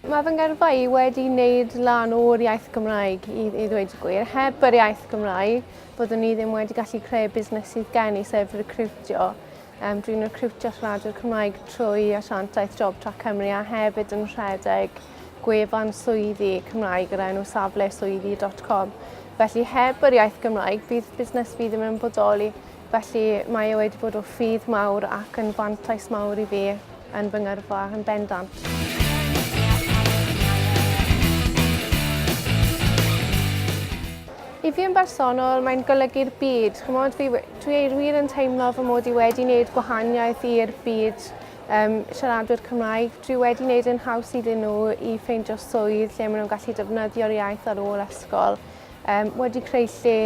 Mae fy ngyrfa i wedi wneud lan o'r iaith Gymraeg i, i ddweud y gwir. Heb yr iaith Gymraeg, byddwn ni ddim wedi gallu creu busnes sydd gen i, sef recriwtio. Um, dwi'n recriwtio siaradwyr Cymraeg trwy asiantaeth Job Track Cymru a hefyd yn rhedeg gwefan swyddi Cymraeg yr enw safle swyddi dot com. Felly heb yr iaith Gymraeg bydd busnes fi ddim yn bodoli. Felly mae e wedi bod o ffydd mawr ac yn fantais mawr i fi yn fy ngyrfa yn bendant. I fi yn bersonol, mae'n golygu'r byd. Chymod, fi, dwi wir yn teimlo fy mod i wedi wneud gwahaniaeth i'r byd um, siaradwyr Cymraeg. Dwi wedi gwneud yn haws iddyn nhw i ffeindio swydd lle maen nhw'n gallu defnyddio'r iaith ar ôl ysgol. Um, wedi creu lle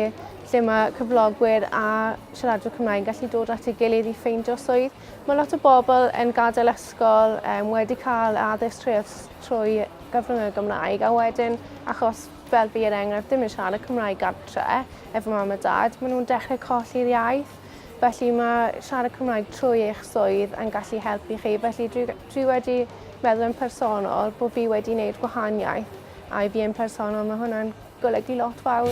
lle mae cyflogwyr a siaradwyr Cymraeg yn gallu dod at ei gilydd i ffeindio swydd. Mae lot o bobl yn gadael ysgol um, wedi cael addysg trwy, trwy gyfrwng y Gymraeg a wedyn achos fel fi er enghraifft ddim yn siarad y Cymraeg gartre efo mam a dad, maen nhw'n dechrau colli'r iaith. Felly mae siarad Cymraeg trwy eich swydd yn gallu helpu chi. Felly dwi, dwi wedi meddwl yn personol bod fi wedi wneud gwahaniaeth a i fi yn personol mae hwnna'n golygu lot fawr.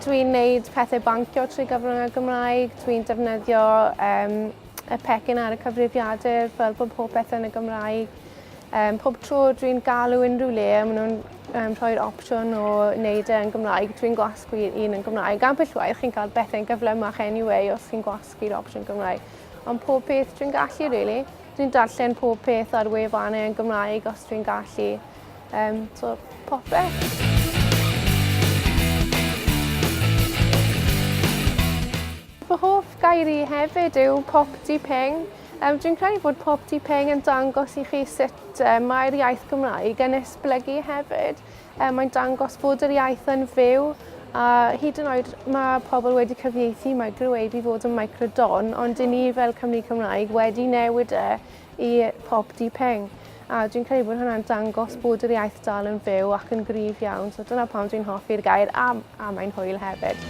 Dwi'n wneud pethau bancio trwy gyfrwng y Gymraeg, dwi'n defnyddio um, y pecyn ar y cyfrifiadur fel bod pob peth yn y Gymraeg. Um, pob tro dwi'n galw unrhyw le, maen nhw'n um, rhoi'r opsiwn o wneud e'n Gymraeg. Dwi'n gwasgu un yn Gymraeg. Ambell waith chi'n cael bethau'n gyflymach anyway os chi'n gwasgu'r opsiwn Gymraeg. Ond pob peth dwi'n gallu, really. Dwi'n darllen pob peth ar wefannau yn Gymraeg os dwi'n gallu. Um, so, popeth. Fy hoff gair i hefyd yw Popty Ping. Yym, dwi'n credu bod Popty Ping yn dangos i chi sut yy mae'r iaith Gymraeg yn esblygu hefyd. Yy, mae'n dangos bod yr iaith yn fyw, a hyd yn oed mae pobl wedi cyfieithu Microwave i fod yn Microdon, ond 'dyn ni fel Cymry Cymraeg wedi newid e i pob du peng. A dwi'n credu bod hwnna'n dangos bod yr iaith dal yn fyw ac yn gryf iawn. So dyna pam dwi'n hoffi'r gair a, a mae'n hwyl hefyd.